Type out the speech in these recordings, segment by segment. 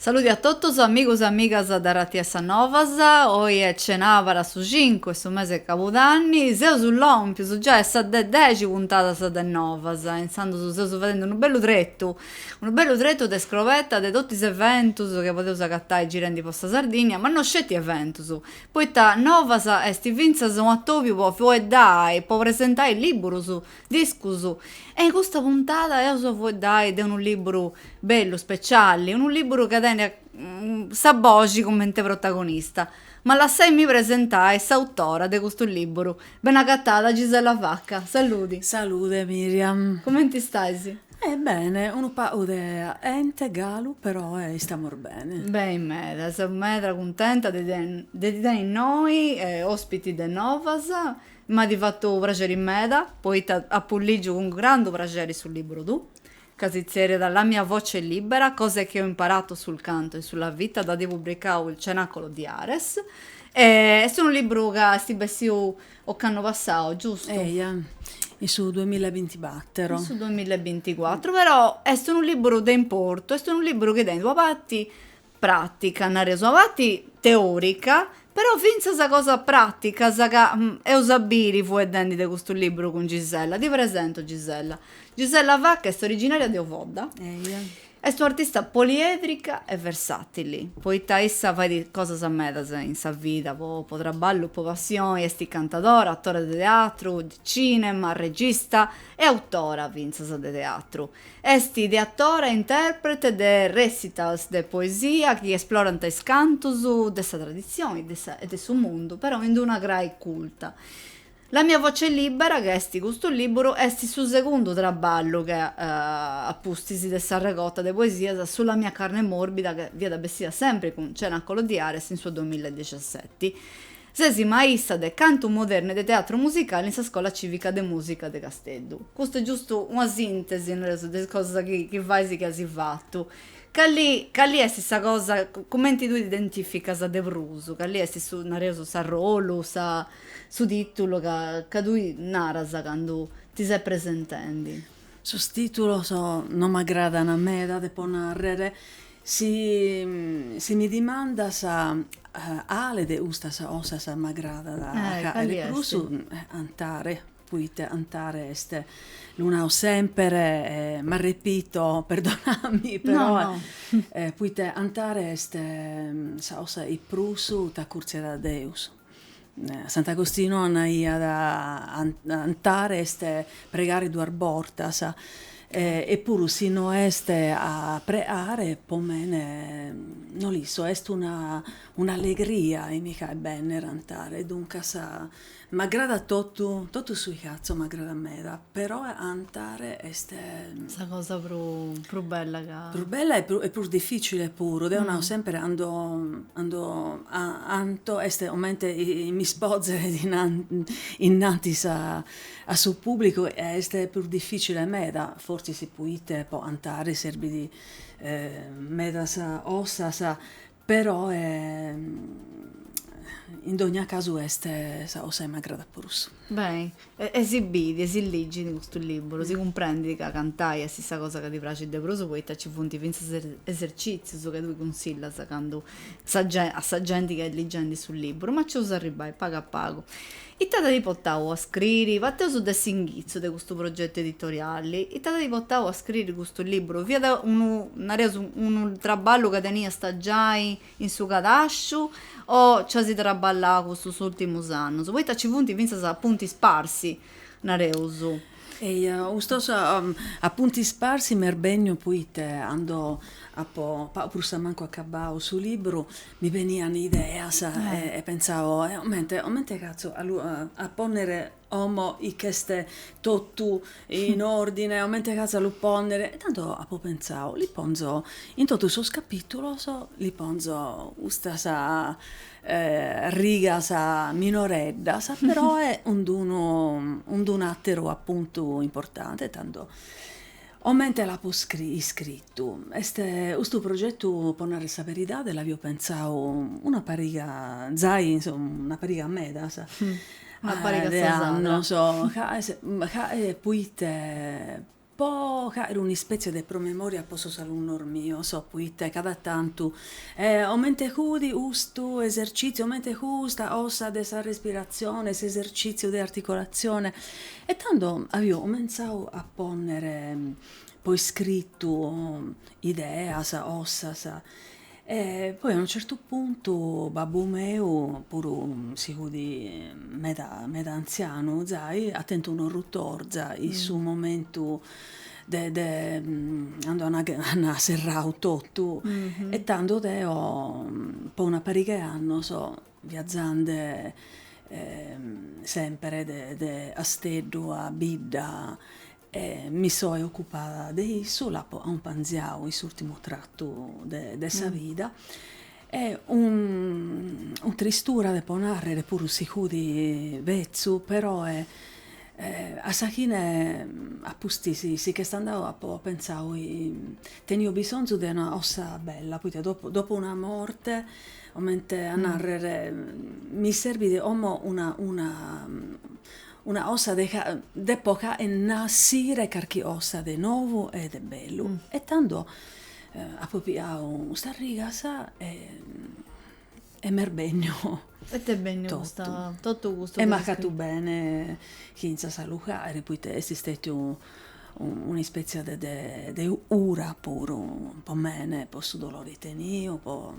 Saludi a totus amigus e amigas de Ràdiu X a Novas, oi est cenàbara su cincu 'e su mese 'e cabudanni, seus lòmpius giai a sa 'e dexi puntadas de Novas, intzandus seus fadendi unu bellu tretu Unu bellu tretu de scroveta de totu is eventus chi podeus agatai girendi po sa Sardìnnia, ma no sceti eventus, poita Novas est fintzas unu atòbiu po fueddai, po presentai lìburus, discus, e in custa puntada eus a fueddai de unu lìburu bellu, speciali, unu lìburu chi tenit sa boxi cumenti protagonista. Ma lassaimì presentai s'autora de custu lìburu. Ben'agatada Gisella Vacca, saludi. Salude Miriam. Cumenti stais? Eh bene, unu pagu caente galu peroe istamus bene. Beni meda, seu meda cuntenta de ti tenni innoi ospiti de Novas e m'at fatu praxeri meda poita apu ligiu cun grandu praxeri su liburu tuu, ca si tzeriat La mia voce libera, cose che ho imparato sul canto e sulla vita dd'at publicau il Cenacolo di Ares e est unu liburu ca est bessiu Ocannu passau, giustu? Eia, in su duamilla e bintibatero. In su duamilla e binticuatru, però est unu liburu de importu, est unu liburu chi tenit una parti pràtica, nareus, una parti teòrica, però fintzas cosas pràticas ca eus a biri fueddendi de custu liburu cun Gisella. Si presentu Gisella. Gisella Vacca est originaria de Ovodda. Eia. Est un'artista poliedrica e versàtili, poita issa fait cosas medas in sa vida, po traballu, po passioni, est cantadora, atora de teatru, de cìnema, regista e autora fintzas de teatru. Est ideatora e intèrprete de recitals de poesia chi esplorant is cantus de sa traditzioni e de su mundu, però in una crai culta. La mia voce libera, ca est custu lìburu, est su segundu traballu chi a pustis de sa regota de poesias Sulla mia carne morbida chi fiat bessida sempri cun Cenacolo di Ares in su duamilla e dexiaseti, ses maista de cantu modernu e de teatru musicali in sa Scola Cìvica de Mùsica de Casteddu. Custu est giustu una sìntesi, nareus, de is cosas chi chi fais e chi as fatu. Cali cali est sa cosa, cumenti tui t'identìficas de prus? Cali est su, nareus, s'arrolu, sa Su tìtulu ca ca tui naras candu ti ses presentendi. Sos tìtulos no m'agradan meda, depo nàrrere, si si mi dimandas cale de custas cosas m'agradat a de prus cantare, poite cantare est, lu naro semper e m'arrepito, perdonami, però poite cantare est sa cosa chi prus t'acurtziat a Deus. Sant'Agostinu anaiat ca cantare est pregare duas bortas e puru si no est a preare po mene no l'isco est una un'allegria chi mi faet benner cantare duncas m'agradat totu totu su chi fatzo m'agradat meda Però cantare est. Sa cosa prus bella ca. Prus bella e prus dificile puru, deo nao sempre cando canto est comente chi m'ispozere innanti a su pubblicu e est prus dificile meda, fortzis poite po cantare serbit medas cosas Però in dogna casu est sa cosa chi m'agradat prus. Be', e si bit e si ligit in custu liburu, si cumprendit ca cantai est sa cosa ca ti praxit de prus poita ci funt fintzas esercitzius ca tui cunsillas candu a sa genti ca est ligendi su liburu, ma ci eus a arribbai pagu a pagu. Ita t'at portau a scriri? Parteus de s'inghitzu de custu progetu editoriali, ita t'at portau a scriri custu liburu? Fiat unu, nareus, unu traballu ca teniast giai in su cadasciu o nci as traballau custus ùrtimus annus? Poita nci funt fintzas appunti sparsi, nareus. Eja, custos appunti sparsi m'est benniu poite cando apo prus a mancu acabau su libru mi benian ideas e pentzao, comente comente fatzo a ponnere como chi ch'est totu in ordine, comente fatzo a lu ponnere, e tando apo pentzau, li ponzo in totu sos capitulos li ponzo custas rigas minoreddas, peroe cun d'unu cun d'unu àteru apuntu importante, tando comente l'apo iscritu, est custu progetu, po narrer sa beridade, l'avio pentzau una pariga, zai in su, una pariga medas de annos ca ca poite Po fàere un'ispètzie de promemòria po sos alunnos mios, poite cada tantu, comente fudi custu esercìtziu, comente custa cosa de sa respiratzione, s'esercìtziu de articolatzione. E tando avio comentzadu a pònnere po iscritu ideas, cosas. E poi a unu certu puntu babbu meu, puru si fudi meda meda antzianu zai, at tentu un'orrutorza in su momentu de de cando an an serrau totu e tando deo po una parighe 'e annos viazzande sempre de de 'Asteddu a bidda E mi soe ocupada de issu, l'apo aumpanziau in s'ùrtimu tratu de sa vida. E 'un tristura depo nàrrere puru si fudi betzu, peroe a sa fine a pustis si ch'est andau apo pentzau, tenio bisonzu de una 'osa bella, poita dopo una morte, comente a nàrrere, mi serbit como una Una 'osa depo fàere nàssire carchi 'osa de novu e de bellu e tando apo piau custas rigas e e m'est benniu e t'est benniu custa totu custu e m'at fatu bene fintzas a lu fàere poita est stetiu un'ispètzia de de 'ura puru po mene, po su dolore 'i tenio, po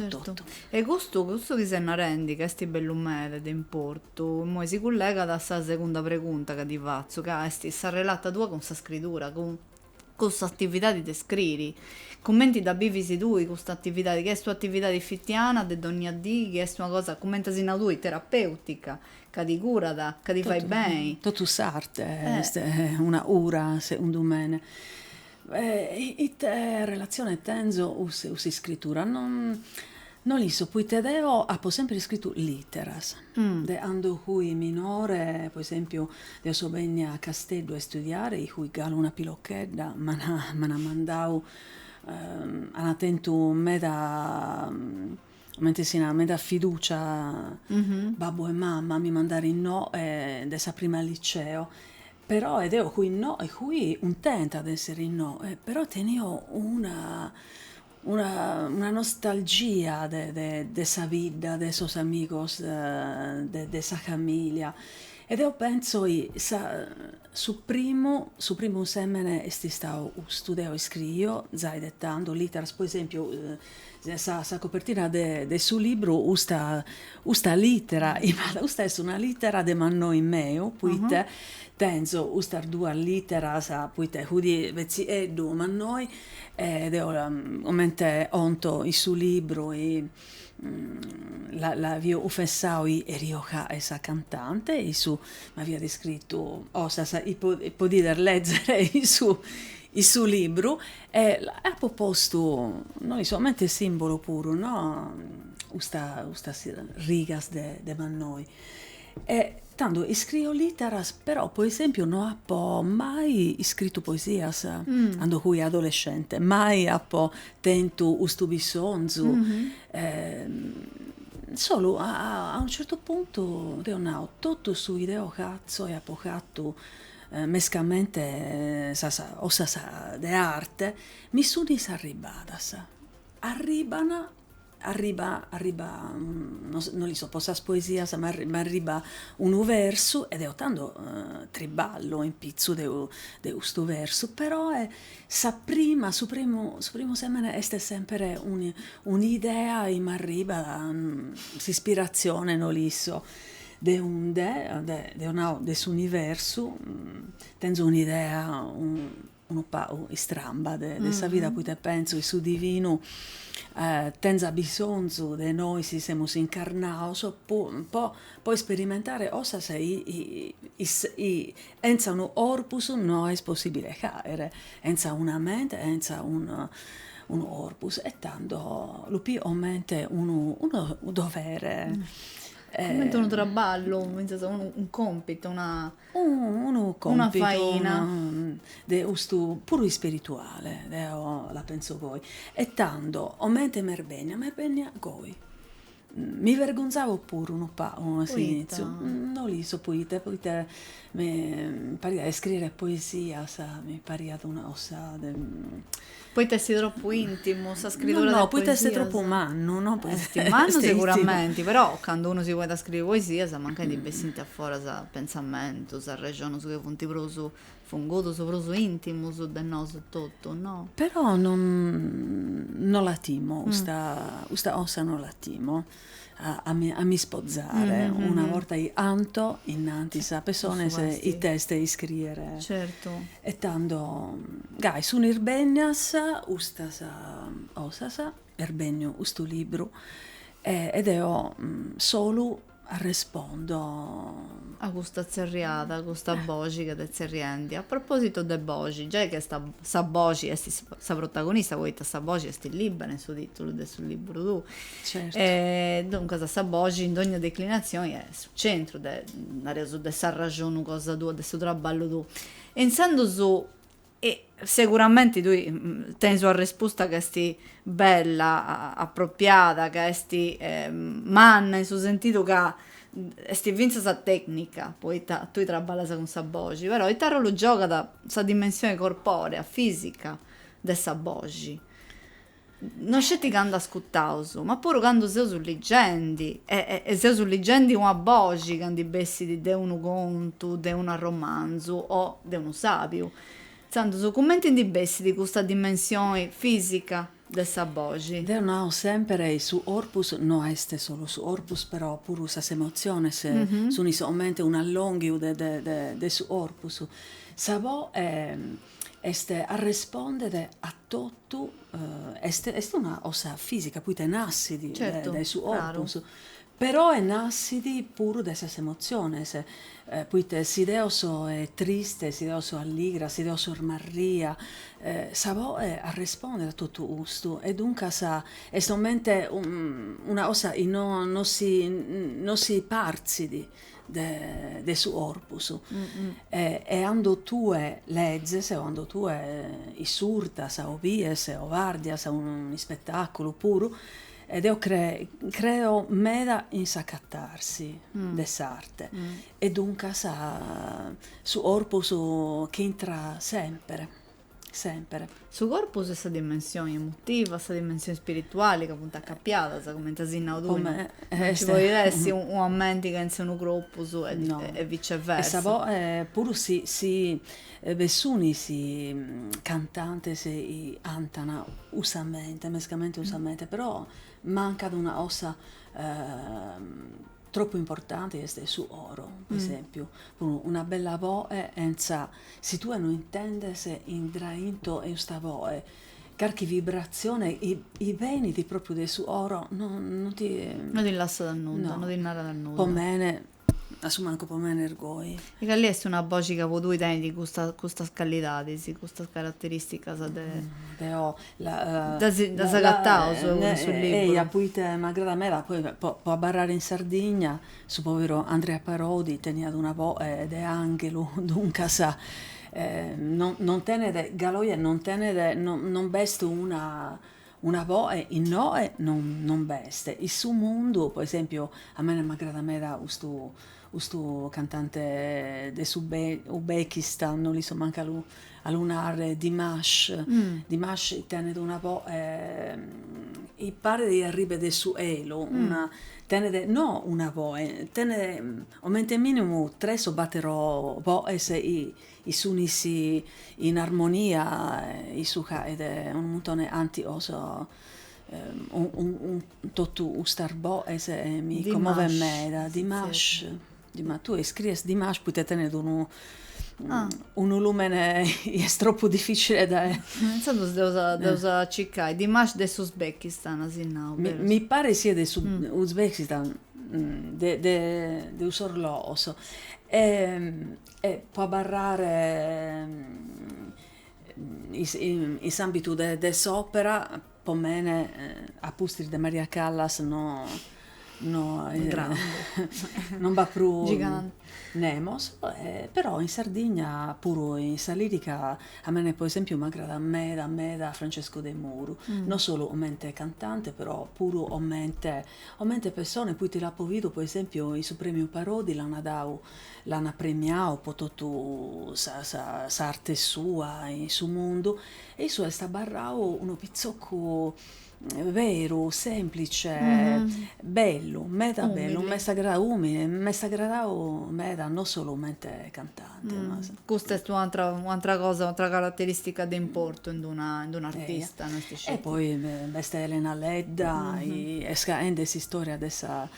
totu. E custu, custu chi ses narendi ca est bellu meda de importu, immoi si cullegat a sa segunda pregunta ca ti fatzu, ca est s'arrelata tua cun sa scridura, cun cun s'atividadi de scriri, cumenti dda bivis tui custa atividadi, chi est una atividadi fitiana de dònnia dì, chi est una cosa, cumenti as nau tui, terapèutica, Ca ti curat, ca ti fait beni. Totu s'arte est una cura, segundu mene. Ite relatzione tenzo cun s'iscritura? No l'isso, poite deo apo sempre iscritu lìteras. De cando fui minore, po esèmpiu, deo so bènnia a Casteddu a istudiare, 'i fui galu una pilochedda m'ant mandau, ant tentu meda Comente si nat meda fiducia babbu e mama mi mandare innò de sa prima liceo, però e deo fui no e fui cuntenta de essere innò, però tenio una una una nostalgia de de de sa bidda, de sos amigos de de sa familia e deo penso ca su primu su primu semene est istau custu, deo iscriio zai de tando lìteras po esempiu Sa copertina de su libru, custa lìtera, custa est una lìtera de mannoi meu, poite tenzo custas duas lìteras, poite fudi betzieddu, mannoi, e deo comente 'onto in su libru, l'aio cunfessau chi 'erio fàere sa cantante, e issu m'aiat iscritu, cosas chi podides lèzere in su libru, E apo postu, no isco, comente simbulu puru, no, custa, custas rigas de de mannoi. E tando iscrio literas, però po esempiu no apo mai iscritu poesias, cando fui adolescente, mai apo tentu custu bisonzu, solu a a unu certu puntu deo nao, totu su chi deo fatzo e apo fatu mescamente sas cosas de arte, mi sunis arribadas, arriban, arriba arriba no l'isco po sas poesias, ma m'arriba unu versu e deo tando triballo in pitzu de de custu versu, peroe sa prima, su primu su primu semene est sempre un'idea chi m'arribat, s'ispiratzione no l'isco De unde, deo nao de s'universu, tenzo un'idea unu pagu istramba de sa vida poite pentzo chi su divinu tenza bisonzu de nois chi semus incarnaos po isperimentare cosas chi chentza unu corpus no est possibile a faere, chentza una mente, chentza unu corpus e tando lu pio comente unu dovere Cumenti unu traballu, fintzas unu còmpitu, una. Unu còmpitu. faina. De custu, puru ispirituale, deo la pentzo goi. E tando, comente m'est bennia, m'est bennia goi. Mi vergonzavo puru unu pagu a s'initziu. Poita? No l'isco poita, poita mi pariat, a iscriere poesias mi pariat una cosa de Poita est tropu intimu sa scritura de poesias? No, no, poita est tropu mannu, no poita est intimu. Est mannu seguramenti, però candu unu si ponit a scriri poesias mancai ndi bessint a foras pentzamentus, arrexonus chi funt prus fungudus, prus intimus de nosu etotu, no? Però non, non la timo, custa, custa cosa non la timo. a m'ispozare, una borta chi canto innantis a pessones it'est iscriere. Certu. E tando, gai, sunis bennias custas cosas, est benniu custu libru, e deo solu arrespondo. A custa tzerriada, a custa boxi chi t'est tzerriendi. A propositu de boxi, giai chi est, sa boxi est sa protagonista, poita sa boxi est libbera in su titulu de su libru tuu. E duncas sa boxi, in dogna declinatzioni, est su centru de, nareus, de s'arraxonu cosa tua, de su traballu tuu. E intzandus, e seguramenti tui tenis una respusta ca est bella, apropiada, ca est manna, in su sentidu ca est fintzas tecnica, poita tui traballas cun sa boxi, però ita arrolu giogat sa dimensioni corporea, fisica, de sa boxi? No sceti candu ascutaus, ma puru candu seus ligendi, e e seus ligendi una boxi ca ndi bessit de unu contu, de un arromanzu o de unu sàbiu. Intzandus, cumenti ndi bessit custa dimensioni fìsica de sa boxi? Deu nau sèmpere su corpus, no est solu su corpus, però puru sas emotziones sunt comente un'allònghiu de de de su corpus. Sa boe Est arrespòndere a totu, est est una cosa fìsica poite nassit dae su corpus, peroe nassit puru dae sas emotziones, poite si deo so triste, si deo so alligra, si deo so smarria, sa boe arrespondet a totu custu e duncas est comente una cosa chi no no si no si partzit de su corpus e cando tue lezes o cando tue isurtas o bies o bardias un'ispetaculu puru e deo creo meda in s'acatarsi de s'arte e duncas su corpus ch'intrat semper semper. Su corpus e sa dimensioni emotiva, sa dimensioni spirituali ca funt acapiadas, cumenti as nau tui, no nci podit essi una menti chentza unu corpus e viceversa. E puru si si bi sunis cantantes cantan cun sa mente, mescamente cun sa mente, però mancat una cosa Tropu importante est su coro, po esempiu, puru una bella boe chentza, si tue no intendes indrainto 'e custa boe, carchi vibratzione chi benit propriu de su coro no no ti. No ti lassat nudda, no ti narat nudda. Po mene, a su mancu po mene est goi. E cali est una boxi ca po tui tenit custas custas callidadis, custas caratteristicas de. Deo Ddas agataus cun su liburu. Eia, poite m'agradat meda poi po abarrare in Sardigna, su poveru Andrea Parodi teniat una boe de anghelu, duncas non tenet, galu oje non tenet, non b'est una una boe innoe non b'est. In su mundu, po esempiu, a mene m'agradat meda custu Custu cantante de su Uzbekistan, no l'isco mancu a lu a lu narrer, Dimash, Dimash tenet una voe chi paret chi arribet de su 'elu, una tenet no una voe, tenet comente minimu tres o battero voes chi sun in armonia, issu c'at unu muntone de canticos Totu custas boes mi commovent meda, Dimash, Dimash, tue iscries Dimash poite tenet unu unu lùmene chi est tropu dificile de. Intzandus dd'eus a circai, Dimash de s'Uzbekistan as nau, berus. Mi paret siat de su Uzbekistan, de de cussos logos po abarrare in s'àmbitu de s'òpera, po mene, a pustis de Maria Callas no no non b'at prus nemos, però in Sardigna puru in sa lìrica, a mene po esèmpiu m'agradat meda meda Francesco Demuro, non solu comente cantante, però puru comente comente pessone, poite l'apo bidu po esèmpiu in su prèmiu Parodi l'ana dau L'an apremiau po totu s'arte sua in su mundu e issu est abarrau unu pitzocu beru, semplice, bellu, meda bellu, m'est agradau, umile, m'est agradau meda, no solu comente cantante. Custa est un'atra cosa, un'atra carateristica de importu in un'artista, no est sceti. E poi b'est Elena Ledda, est faende s'istoria de sa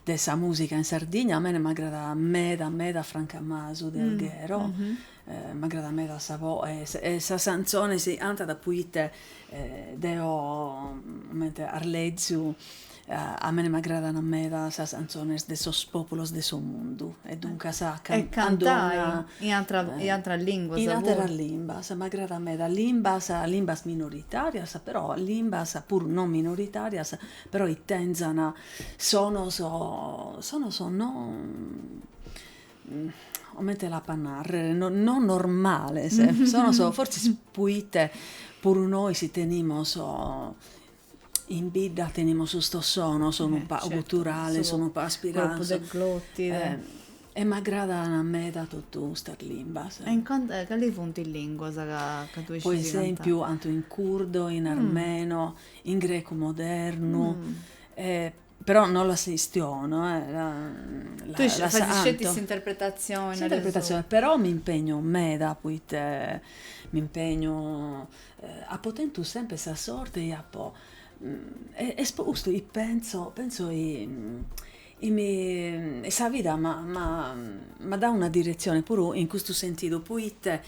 de sa musica in Sardigna a mene m'agradat meda meda Franca Masu de Alghero m'agradat meda sa voe e sas canzones chi cantat poite deo comente as leziu a mene m'agradan meda sas canzones de sos populos de su mundu e duncas e cantai in atras linguas puru in ateras limbas m'agradan meda limbas limbas minoritarias però limbas puru non minoritarias Però chi tenzan sonos sonos no comente l'apo a narrer no no normales sonos forsis poite puru nois tenimus in bidda tenimus custos sonos unu pagu guturales unu pagu aspirados E m'agradan meda totu custas limbas. E calis funt is lìnguas chi tui iscis cantai? Po esèmpiu canto in curdo, in armeno, in grecu modernu, però no las chistiono. Tui fais sceti s'interpretatzioni. S'interpretatzioni, però m'impegno meda poite m'impegno, apo tentu sempre sa sorte chi apo, est po custu chi pentzo, pentzo chi e sa vida m'at dau una diretzione puru in custu sentidu, poite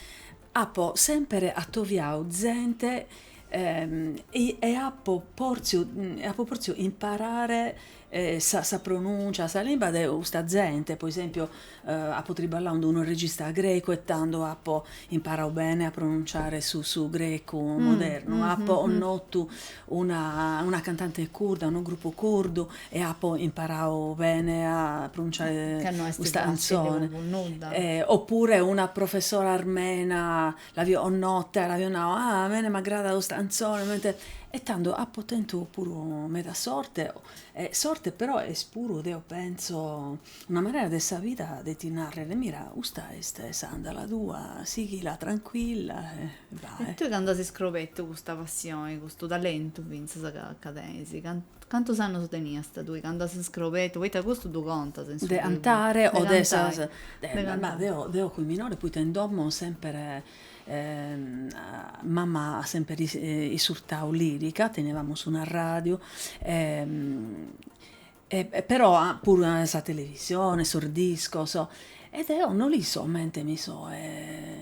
apo sèmpere atoviau zente e apo pòrtziu e apo pòrtziu imparare sa pronùncia, sa limba de custa zente, po esempiu Apo triballau cun unu regista grecu e tando apo imparau bene a pronunciare su su grecu modernu. Apo connotu una una cantante curda, unu grupu curdu e apo imparau bene a pronunciare custa cantzone. Oppure una professora armena l'apo connota, l'apo nau, a mene m'agradat custa cantzone, comente. E tando apo tentu puru meda sorte, sorte però est puru deo pentzo Una manera de sa vida de ti narrere, mira, custa est s'andala tua, sighila trancuilla e vae. E tui candu as iscrobetu custa passione, custu talentu fintzas ca ca tenis, cantus annus teniast tui candu as iscrobetu, poita custu ddu contas in su de cantare o de sas de cantai, ma deo deo fui minore poita in domo sempere mama at sempere isurtau lirica, tenivamus un'arradiu e e però puru sa televisione, sos discos, e deo no l'isco comente mi so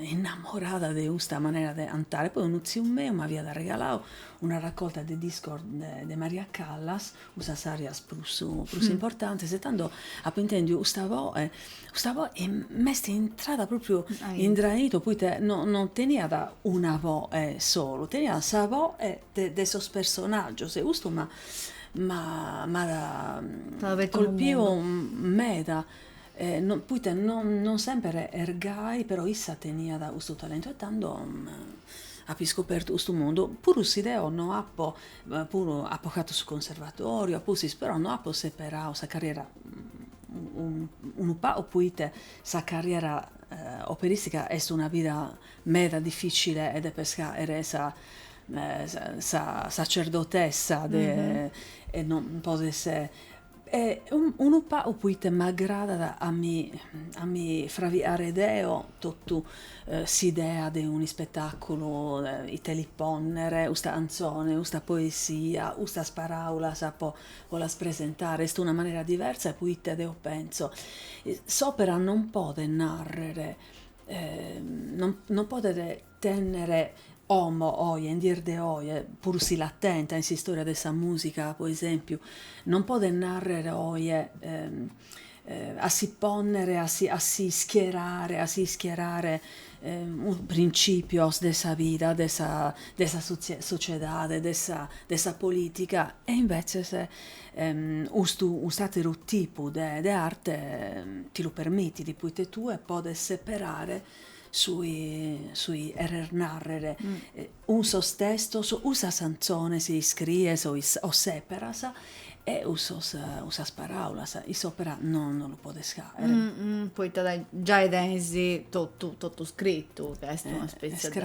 innamorada de custa manera de cantare, poi unu tziu meu m'aviat arregalau una raccolta de discos de Maria Callas, cussas arias prus prus importantes e tando apo intendiu custa voe, custa voe e m'est intrada propriu in draitu poite no no teniat una voe solu, teniat sa voe de de sos personaggios e custu m'at m'at colpiu meda, poite non sempere est gai, però issa teniat custu talentu e tando apo iscopertu custu mundu, puru si deo no apo, puru apo fatu su conservatoriu, apustis, però no apo seperau sa carriera, unu pagu, poite sa carriera operistica est una vida meda dificile e depes faere sa sa sacerdotessa de e non podes e unu pagu poite m'agradat a mi a mi fraviare deo totu s'idea de un ispetaculu ite li ponnere usta canzone usta poesia ustas paraulas po po las presentare est una manera diversa poite deo penso s'opera non podet narrer non podet tènnere como oje, in dies de oje, puru si l'at tenta in s'istòria de sa mùsica pro esèmpiu, non podet nàrrere oje a si pònnere, a si a si schierare a si ischierare printzìpios de sa vida de sa de sa sotziedade, de sa de sa polìtica e imbetzes Custu cust'àteru tipu de arte ti lu permitit poite tue podes seperare su chi cheres nàrrere cun sos testos, cun sas cantzones chi iscries o seperas e cun sas paràulas, in s'òpera no lu podes hàere. Poita giai tenis totu scritu, ca est una spètzia de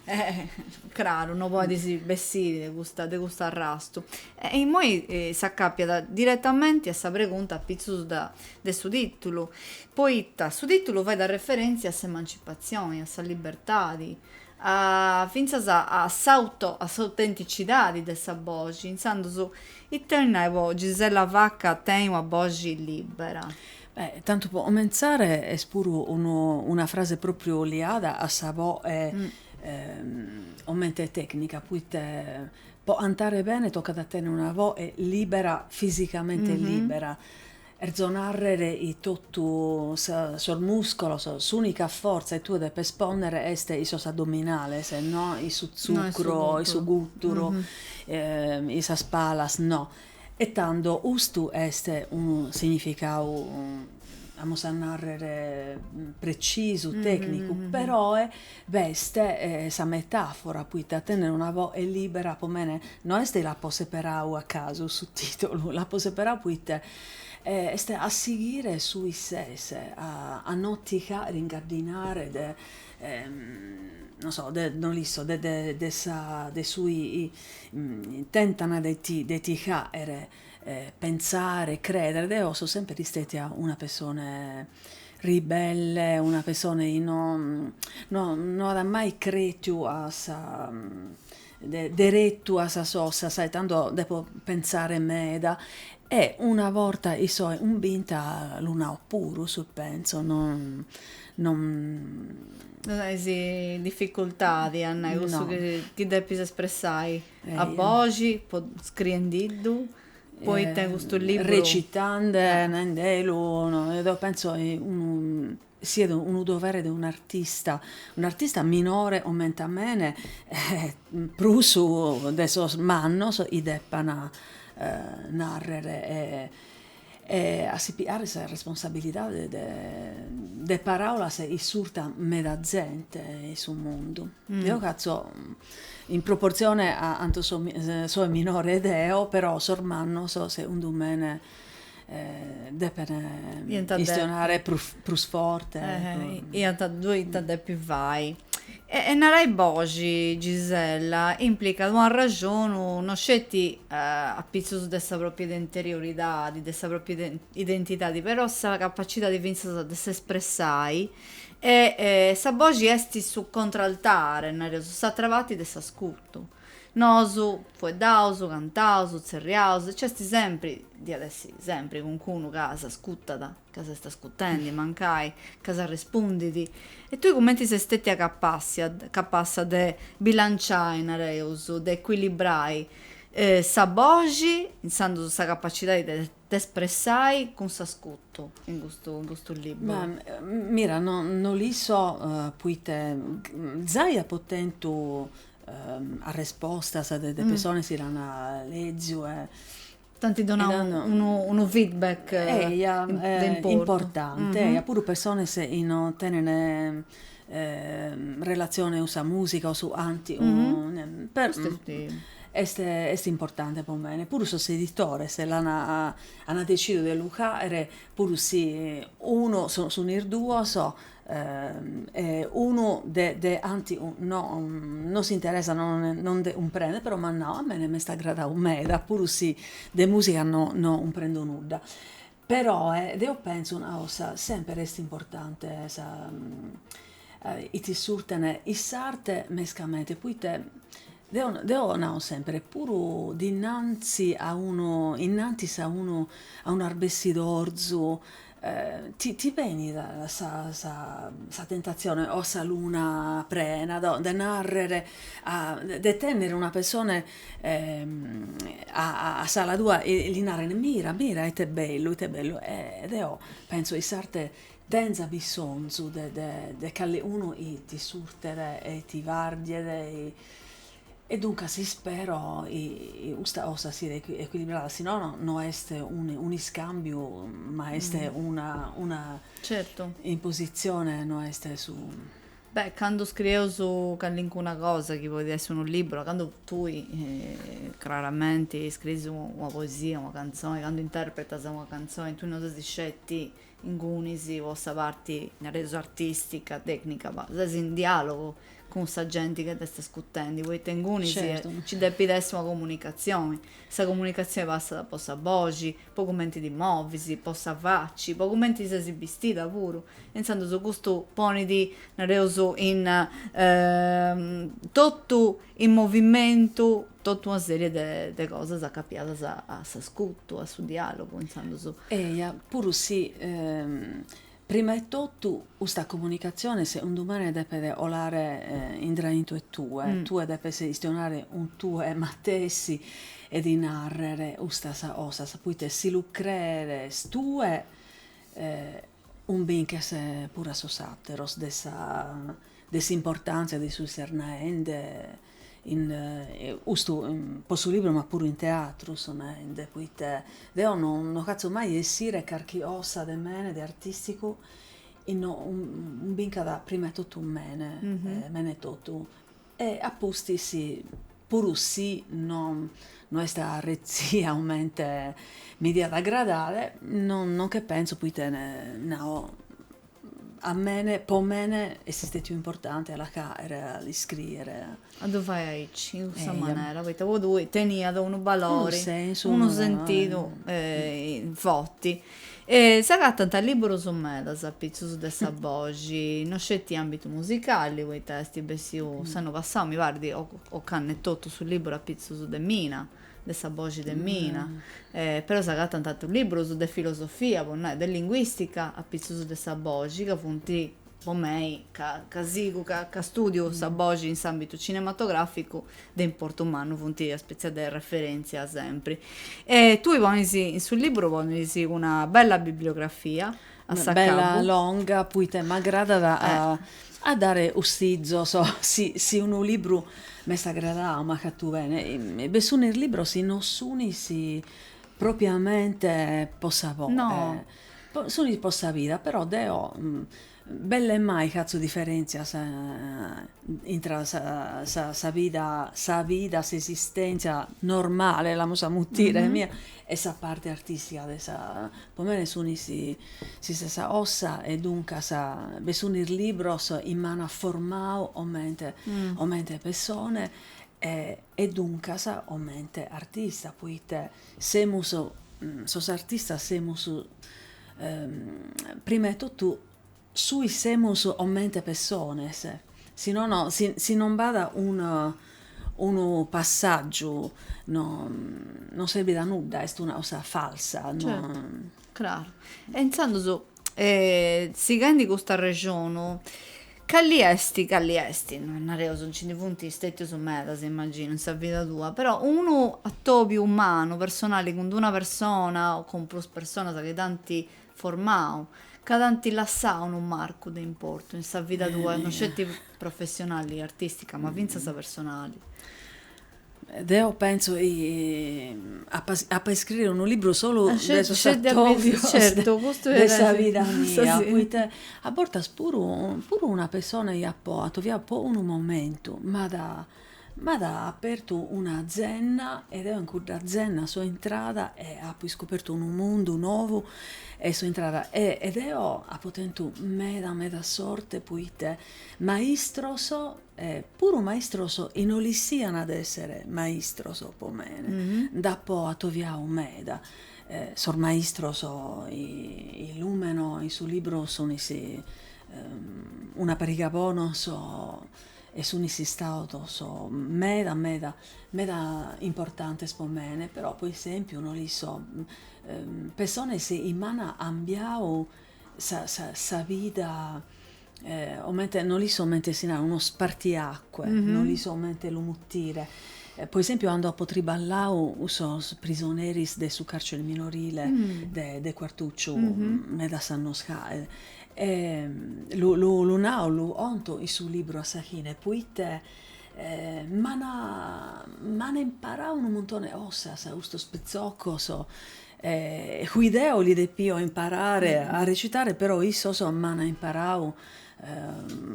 Eh, craru, no podis bessiri de custa, de custu arrastu. E immoi s'acapiat diretamenti a sa pregunta apitzus da, de su tìtulu, poita su tìtulu fait a referèntzia a s'emancipatzioni, a sa libertadi, a, fintzas a s'auto, a s'autenticidadi de sa boxi, intzandus, ita bolit nai po Gisella Vacca, tenni una boxi libera. Beh, tantu po comentzare est puru unu una frase pròpriu liada a sa voe comente tècnica, poite po cantare bene tocat a tènner una voe libera, fisicamente libera, cherzo nàrrere chi totu sa sos muscolos, s'ùnica fortza chi tue depes pònnere est in sos addominales, no in su tzucru o in su gùturu, in sas palas no E tando custu est unu significau, amus a nàrrer, precisu, tècnicu, peroe b'est sa metàfora, poite tenner una voe libera po mene, no est chi l'apo seperau a casu su tìtulu, l'apo seperau poite est a sighire su chi ses, a no ti fagher ingaddinare de, non so, de, no l'isco, de su Tentant de ti de ti hàere pentzare, crèdere, deo so semper istètia una pessone ribelle, una pessone chi no no no at mai crètiu a sa de deretu a sas cosas e tando depo pentzare meda e una borta chi soe cumbinta lu nao puru su chi pentzo no no No ses in dificultadi a nai cussu no. chi depis espressai eh, a boxi, po, scriendiddu, poita eh, custu libru... Recitande, ah. naendelu, no, deu penso eh, unu siat unu dovere de un'artista, un'artista minore comente a mene, eh, prus de sos mannos, chi depan eh, narrer. Eh, E a si piare sa responsabilidade de de paràulas chi iscurtat meda zente in su mundu. Deo hatzo in proportzione a cantu soe minore deo, però sos mannos segundu mene depene chistionare prus prus forte. Iant ddu iant a depi fai E e narai boxi, Gisella, implicat una raxonu no sceti apitzus de sa pròpia identierioridadi, de sa pròpia identidadi, però sa capacidadi fintzas de s'espressai e e sa boxi esti su contraltare, nareus, s'atra parti de s'ascutu. Nosu, fueddaus, cantaus, tzerriaus, e nc'esti sempri, diat essi sempri, calincunu ca s'ascutat. ca s'est ascutendi, mancai, ca s'arrespundit, e tui cumenti ses stètia capassia, capassa de bilanciai, nareus, de ecuilibrai, sa boxi, insandus sa capacidadi de t'espressai, cun s'ascutu, in custu, in custu liburu? Mira, no, no li so, poita zai apo tentu arrespostas de de personas chi l'an leziu e T'anti donau unu feedback. Eia, importante, eia, puru persones chi non tenent relatzione cun sa musica o su anti est est importanti pro mene, puru sos editores l'an ana decidiu de lu fagher puru si unu, sun in duos e unu de de antis no no s'interessat no no nde cumprendit però m'at nau, a mene m'est agradau meda puru si de musica no no cumprendo nudda, però deo pentzo una cosa semper est importante chi ti iscurtene in s'arte mescamente poite deo nao semper puru dinanzi a unu innantis a unu a un'arbeschidorzu Ti ti benit sa sa sa tentatzione o sa luna prena de narrer de tenner una pessone a a s'ala tua e li narrer mira mira ite bellu ite bellu e deo pentzo chi s'arte tenza bissontzu de de de calicunu chi ti iscurtet e ti bardiet E duncas ispero chi custa cosa siat ecuilibrada, si nono no est un'iscàmbiu ma est una, certo, impositzione, no est su. Beh, cando scrieus calincuna cosa chi podit essi unu liburu, cando tui craramenti scriis una poesia, una cantzoni, cando interpretas una cantzoni, tui no ses sceti ingunis po sa parti, nareus, artìstica, tècnica, ma ses in diàlogu cun sa genti chi t'est iscutendi, poita ingunis nci depit essi una comunicatzioni, sa comunicatzioni passat po sa boxi, po cumenti ti movis, po sa faci, po cumenti ses bistida puru, intzandus custu ponit, nareus, in totu in movimentu totu una sèrie de cosas acapiadas a s'ascutu, a su diàlogu, intzandus. Eja, puru si, prima 'e totu, custa comunicatzione, segundu mene, depet 'olare intraintu 'e tue, tue depes istionare cun tue matessi e ti nàrrere custas cosas, poite si lu crees tue, Cumbinches puru a sos àteros de sa de s'importàntzia de su 'i ses naende in custu pro su libru ma puru in teatru so naende poite deo no no fatzo mai 'e essire carchi 'osa de mene de artisticu 'i no 'umbincat prima 'e totu mene mene etotu E a pustis, puru si no no est retzia comente mi diat agradare, no no nche pentzo poita nao, a mene, po mene est istètiu importante a la fàere, a l'iscriere. A ddu fai aici, in custa manera, poita po tui teniat unu balori, unu sentidu forti. E s'agatant lìburus medas apitzus de sa boxi, no sceti àmbitu musicali, poita est bessiu s'annu passau, mi parit, ocannu etotu, su lìburu apitzus de Mina, de sa boxi de Mina. Però s'agatant atrus lìburus de filosofia, po nai, de linguìstica, apitzus de sa boxi, ca funt po mei, ca ca sigu, ca ca stùdiu sa boxi in s'àmbitu cinematogràficu, de importu mannu funt una spètzia de referèntzia sempri. E tui ponis, in su lìburu ponis una bella bibliografia a s'acabbu. Bella longa, poite m'agradat a dare 'ussizos, si si unu libru m'est agradau, m'at fatu bene, be sunis libros 'i non sunis propriamente po sa. No, Sunis po sa vida, però deo belle mai fatzo diferentzias intra sa vida, sa vida, s'esistentzia normale, l'amus a mutire, mia e sa parte artistica de sa, po mene sunis s'istessa 'osa e duncas be sunis libros chi m'an formau comente comente pessone e duncas comente artista, poite Semus, sos artistas semus prima 'e totu su chi semus comente pessones, si nono si si non b'at unu unu passàgiu no non serbit a nudda, est una cosa falsa Craru. E intzandus, sighendi custu arrexonu, cali est, cali est, non nareus, nci ndi funt stètius medas, immaginu, in sa vida tua, però unu atobiu umanu, personali, cun d-una persona o cun prus personas chi t'ant formau, ca t'ant lassau unu marcu de importu in sa vida tua, non sceti professionali, artìstica, ma fintzas personali? Deo pentzo chi apa a iscrire unu libru solu de sos atòbios de sa vida mia, poite a bortas puru puru una pessona chi apo atoviau po unu momentu m'at m'at apertu una zenna e deo in cudda zenna so intrada e apo iscopertu unu mundu nou e so intrada e e deo apo tentu meda meda sorte, poite maistros E puru maistros 'i no l'issiana de essere maistros po mene, nd'apo atoviau meda, sos maistros 'i lumeno in su libru sunis una pariga bonos e sunis istados meda meda meda importantes po mene, però po esempiu no l'isso pessones chi m'an 'ambiau sa vida no l'isso 'omente si narat unu spartiacque, no l'isso 'omente lu mutire. Po esempiu cando apo triballau cun sos prisoneris de su carcere minorile de Quartucciu medas annos jae, lu nau, lu 'onto in su libru a sa fine, poite m'an imparau unu muntone 'e cosas custos pitzocos E cui deo li depio imparare a recitare, però issos m'an imparau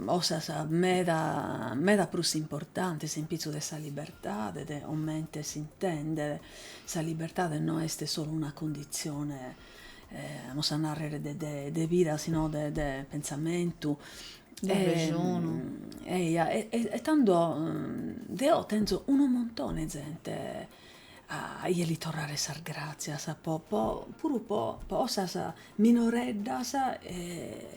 cosas meda meda prus importantes in pitzu de sa libertade, de comente s'intendere sa libertade, no est solu una cundizione, amus a narrer, de vida, si no de de pentzamentu, eia e tando deo tenzo unu muntone 'e zente A 'ie li torrare sas gràtzias po po puru po 'osas minoreddas e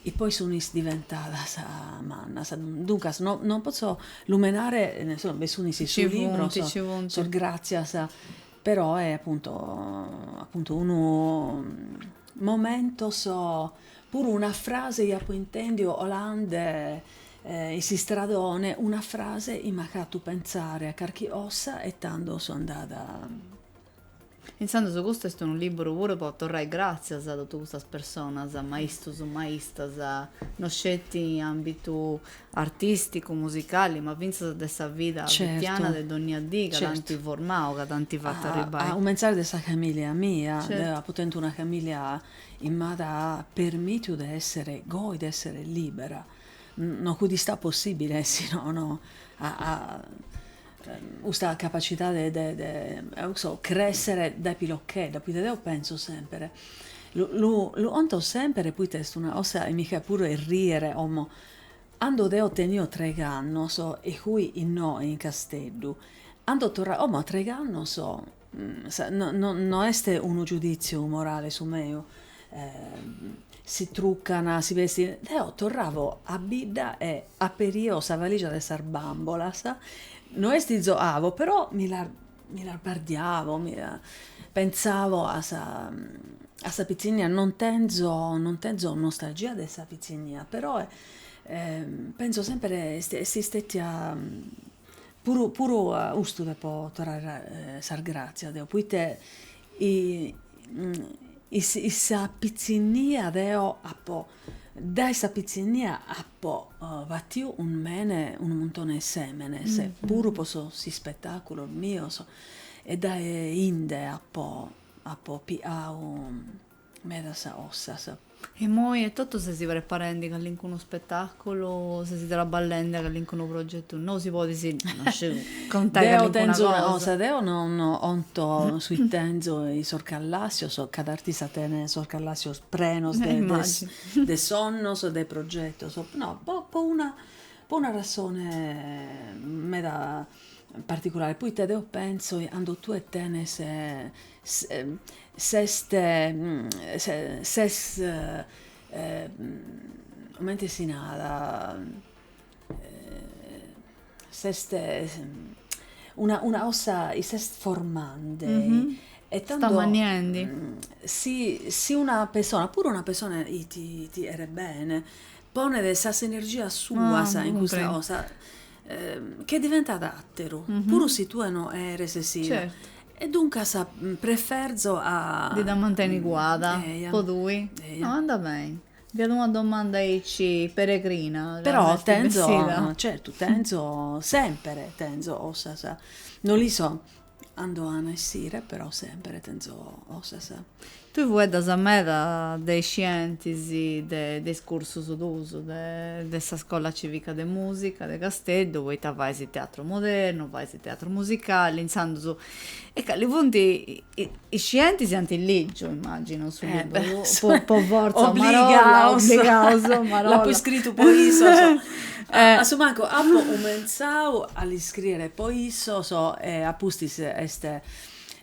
e poi sunis diventadas mannas. Duncas no non potzo lumenare insomma bi sunis in su libru sos gràtzias però e appunto appunto unu momentos puru una frase 'i apo intèndiu 'olande In s'istradone una frase i m'at hatu pentzare a carchi ossa e tando so andada. Intzandus custu est unu liburu puru po torrai gràtzias a totu custas personas, maistus, maistas, no sceti in àmbitu artìsticu, musicali, ma fintzas de sa vida fitiana de dònnia dì, ca t'ant formau, ca t'ant fatu arribbai. A cumentzare de sa famìllia mia, deo apo tentu una famìllia chi m'at permìtiu de èssere goi, de èssere lìbera. No fudi istau possìbile si no no a a custa capacidade de de eo chi so cressere dae pilochedda, poita deo penso semper, lu lu lu conto semper poita est una cosa e mi faet puru errìere como, cando deo tenio treg'annos e fui innoi in Casteddu, ando torravo, como a treg'annos No est unu giudìtziu morale su meu, si trucant, si bestint, deo torravo a bidda e aperio sa valìgia de sas bàmbolas, no est chi zoavo, però mi las mi las bardiavo, pentzavo a sa a sa pitzinnia, non tenzo non tenzo nostalgia de sa pitzinnia, però pentzo semper est istètia Puru puru a custu depo torrare sas gràtzias deo, poite in sa pitzinnia deo apo, dae sa pitzinnia apo batiu unu mene, unu muntone 'e sèmenes, puru pro sos ispetàculos mios, e dae 'inde apo apo pigau medas ossas. Imoi etotu sesi preparendi callincunu spetàculu, sesi traballendi a callincunu progetu nou, si podis contai callincuna cosa. Deo non 'onto su i tenzo in sos callàssios, cada artista tenet sos callàssios prenos de sonnos, de progetos, no, po po una po una razone meda particulare, poite deo pentzo chi cando tue tenes S'est comente si narat s'est una una cosa i s'est formande e tando s'est ammanniendi si si una persona puru una persona i ti i ti cheret bene ponet sas energias suas in custa cosa Che diventat àteru, puru si tue no eres sida. E duncas preferzo a. Ti dda mantenis cuada po tui? No, andat beni. Fiat una domanda aici peregrina. Però tenzo, certu, tenzo, semper tenzo ossas. No li so. Ando an a essire però sempre tenzo cosas. Tue fueddas meda de is scientis de is cursus tuus de sa Scola Civica de Musica de Casteddu, poita fais teatru modernu, fais teatru musicali, intzandus e cali funt Is scientis ant lìgiu, immàginu, su liburu, po fortza, a marolla, obligaus, l'apu iscritu po issos, a su mancu apu cumentzau a l'iscrìere po issos e a pustis est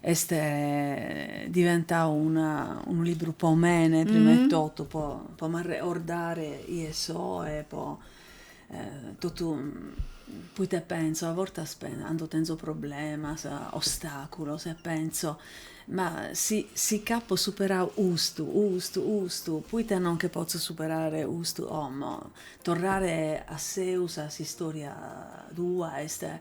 est diventau una unu liburu po mene, prima 'e totu, po m'arregordare 'ie so e po totu poite pentzo, a bortas cando tenzo problemas, ostaculos e pentzo, ma si si ch'apo superau custu, custu, custu, poite non nche potzo superare custu como, torrare a seus a s'istoria tua est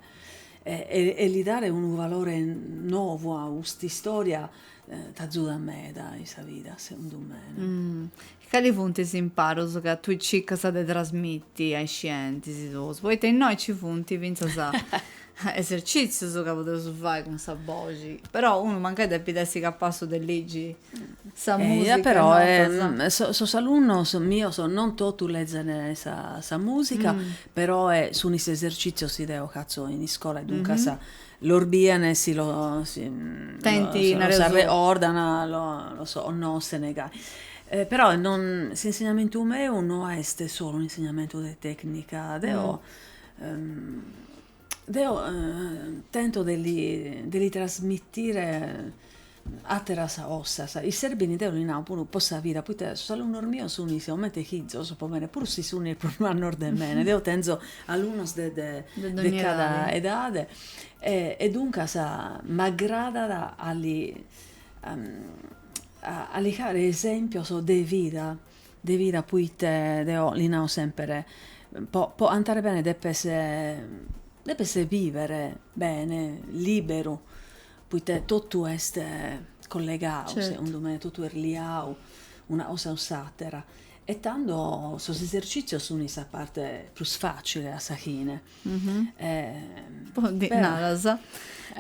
e li dare unu valore novu a cust'istoria t'azudat meda in sa vida segundu mene. Cali funt is imparos ca tui circas de trasmiti a is scientis tuus? Poita innoi nci funt fintzas esercìtzius ca podeus fai cun sa boxi, però unu mancai depit essi capassu de ligi sa musica e notas. Però sos alunnos mios non totu lezent sa musica, però sun is esercìtzios chi deo fatzo in iscola e duncas Los bian e si los arreordan, los onnoschent gai. Però s'insignamentu meu no est solu un'insignamentu de tècnica, deo deo tento de li trasmitire Àteras cosas chi serbint, deo li nao puru po sa vida, poite sos alunnos mios sunt comente fizos po mene, puru si sunt prus mannos de mene, deo tenzo alunnos de de de cada edade e duncas m'agradat a li a li fagher esempios de vida, de vida poite deo li nao semper, po po cantare bene depes depes bìvere bene, liberu Poita totu est collegau, segundu me, totu est liau una cosa cun s'àtera e tando sos esercìtzios sunt sa parte prus fàcile a sa fine. Naras,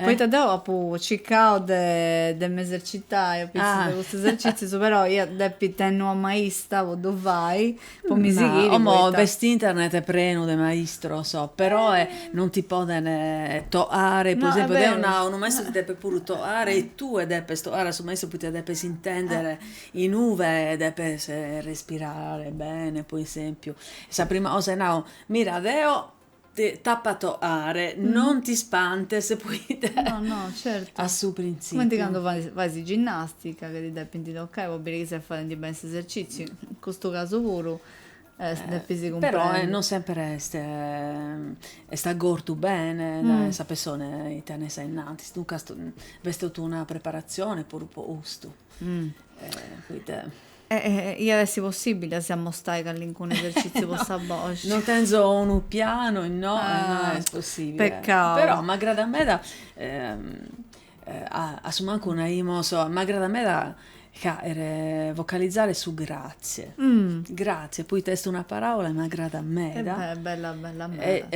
poita deu apu circau de m'esercitai, apustis de custus esercìtzius, però ia a depi tenni una maista po ddu fai, Po mi sighiri poita. Como b'est internet prenu de maistros, peroe non ti poden toare, po esempiu deo nao, unu maistru ti depet puru toare e tue depes toare a su maistru poite depes intendere inube depes respirare bene, po esempiu, sa prima cosa chi nao, mira deo Deo t'apo a toare, non ti spantes poita No, no, certu. a su printzipiu. Cumenti candu faes ginnastica chi ti depint toccai po biri chi ses faendi beni s'esercitziu, in custu casu puru depis cumprendi. Però non semper est est agortu bene sa persona chi tenes a innantis, duncas b'est totu una preparatzioni puru po custu. Iat essi possibili a si ammostai callincunu eserciziu po sa boxi? No tenzo unu pianu e no est possibili. Peccau. Però m'agradat meda a su mancu naimus, m'agradat meda a vocalizare su grazie. Grazie poita est una paraula e m'agradat meda. Est bella bella meda.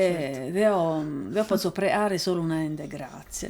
Deo potzo preare solu naende grazie.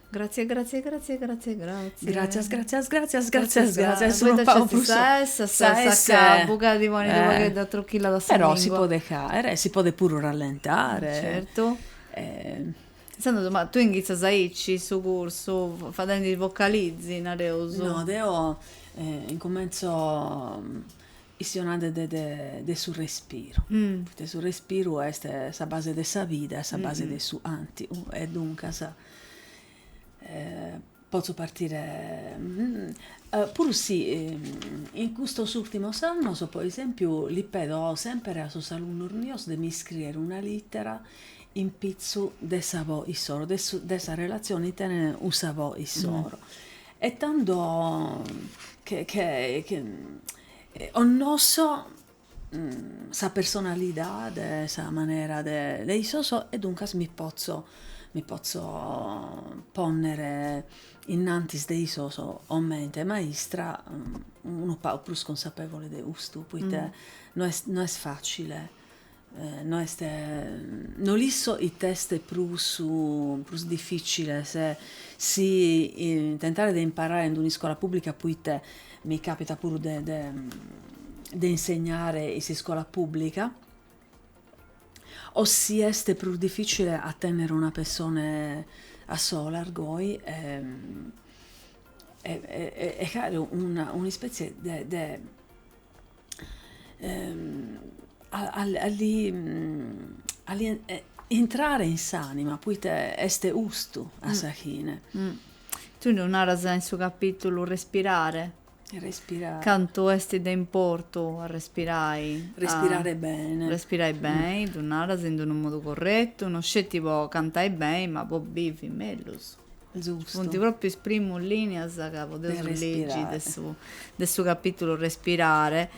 Gratzie gratzie gratzie gratzie gratzie. Gratzias gratzias gratzias gratzias gratzias su poita nc'est prus sa essa sa essa sa ca buca ti ponit unu pagheddu atrochillada sa lingua però si podet aere e si podet puru rallentare certu intzandus ma tue inghitzas aici su cursu fadendi vocalizi nareus no deo incumentzo Istionande de su respiru, poita su respiru est sa base de sa vida e sa base de su antu e duncas potzu partire, puru si in custos ultimos annos po esempiu li pedo semper a sos alunnos mios de mi iscriere una littera in pitzu de sa bò issoro, de sa relazione chi tenent cun sa bò issoro E tando che onnosso sa personalidade sa manera de de issos e duncas mi pozzo mi pozzo ponner innantis de issos comente maistra unu pagu prus consapevole de custu, poita no est no est facile No est no l'isso it'est prus prus difficile si tentare de imparare in un'iscola pubblica poite mi capita puru de de de insegnare in s'iscola pubblica o si est prus difficile a tennere una persona a solas goi e e e e aere un'ispetzie de de a li a li intrare in s'anima poita est ustu a sa chine. Tui ddu naras in su capitulu respirare. Respirare. Cantu est de importu a respirai. Respirare bene. Respirai beni, ddu naras in d'unu modu corretu, no sceti po cantai beni ma po bivi mellus. Funt pròpriu is primus lìnias ca podeus ligi de su capìtulu Respirare,